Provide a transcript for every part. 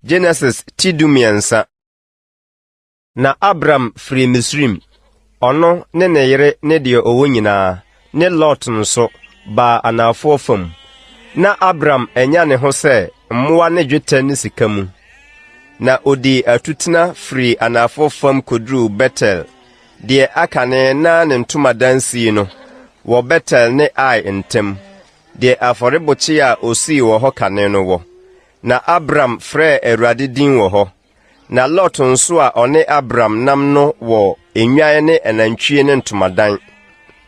Genesis ti du mmiɛnsa. Na Abram firi Misrim, ɔno ne ne yere ne deɛ ɔwɔ nyinaa, ne Lot nso, baa anaafoɔ fam. Na Abram anya ne ho sɛ mmoa ne dwetɛ ne sika mu. Na ɔdii atutena firii anaafoɔ fam kɔduruu Betel Deɛ aka ne na ne ntomadan sii no wɔ Betel ne Ai ntam, deɛ afɔrebokyea a ɔsii wɔ hɔ kane no wɔ. Na Abram frɛɛ Awurade din wɔ hɔ. Na Lot nso a ɔne Abram nam no wɔ nnwan ne anantwie ne ntomadan.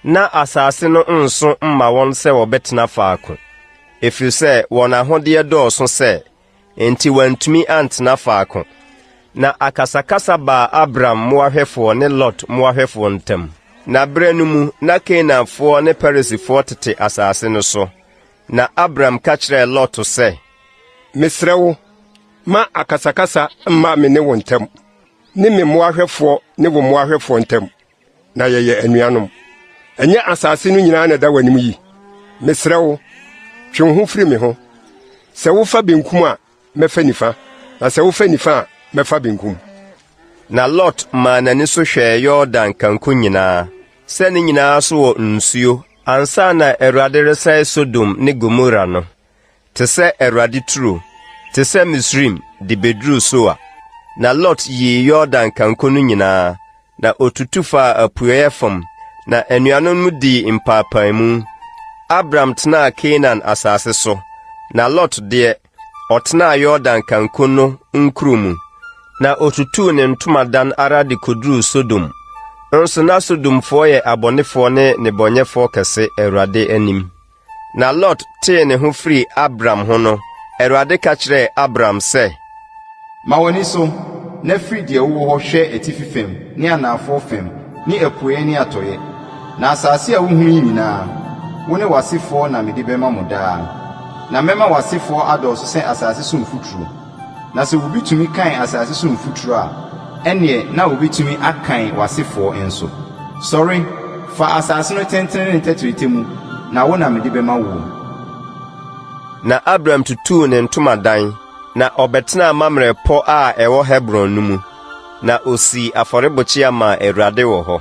Ná asase no nso mma wɔn sɛ wɔbɛtena faako, ɛfiri sɛ wɔn ahodeɛ dɔɔso sɛ enti wantumi antena faako. Na akasakasa baa Abram mmoahwɛfoɔ ne Lot mmoahwɛfoɔ ntam. Na berɛ no mu, na Kanaanfoɔ ne Perisifoɔ tete asase no so. Na Abram ka kyerɛɛ Lot sɛ. Mesrɛ wo, ma akasakasa mma me ne wo ntam, ne me mmoahwɛfoɔ ne wo mmoahwɛfoɔ ntam. na yɛyɛ anuanom. Ɛnyɛ asase no nyinaa na ɛda w'anim yi. Mesrɛ wo, twe wo ho firi me ho. Sɛ wofa benkum a, mɛfa nifa, na sɛ wofa nifa a, mɛfa benkum. Na Lot maa n'ani so hwɛɛ Yordan kanko nyinaa, sɛ ne nyinaa so wɔ nsuo, ansa na Awurade resɛe Sodom ne Gomora no. te sɛ Awurade turo, te sɛ Misraim de beduruu Soar. Na Lot yii Yordan kanko no nyinaa, na otutu faa apueeɛ fam, na anuanom no dii mpaapaemu. Abram tenaa Kanaan asase so, na Lot deɛ, ɔtenaa Yordan kanko no nkuro mu. Na otutuu ne ntomadan ara de koduruu Sodom. Nso na Sodomfoɔ yɛ abɔnefoɔ ne nnebɔnyɛfoɔ kɛse Awurade anim. Na Lot tee ne ho firii Abram ho no, Awurade ka kyerɛɛ Abram sɛ. Ma w'ani so, na firi deɛ wowɔ hɔ hwɛ atifi fam ne anaafoɔ fam ne apueɛ ne atɔeɛ, na asase a wohunu yi nyinaa, wo ne w'asefoɔ na mede bɛma mo daa. Na mɛma w'asefoɔ adɔɔso sɛ asase so mfuturo. Na sɛ obi tumi kan asase so mfuturo a, ɛnneɛ na ɔbɛtumi akan w'asefoɔ nso. Sɔre, fa asase no tentene ne ne tɛtrɛtɛ mu, na wo na mede bɛma woɔ. Na Abram tutuu ne ntomadan, na ɔbɛtenaa Mamrɛ pɔ a ɛwɔ Hebron no mu, na ɔsii afɔrebukyia maa Awurade wɔ hɔ.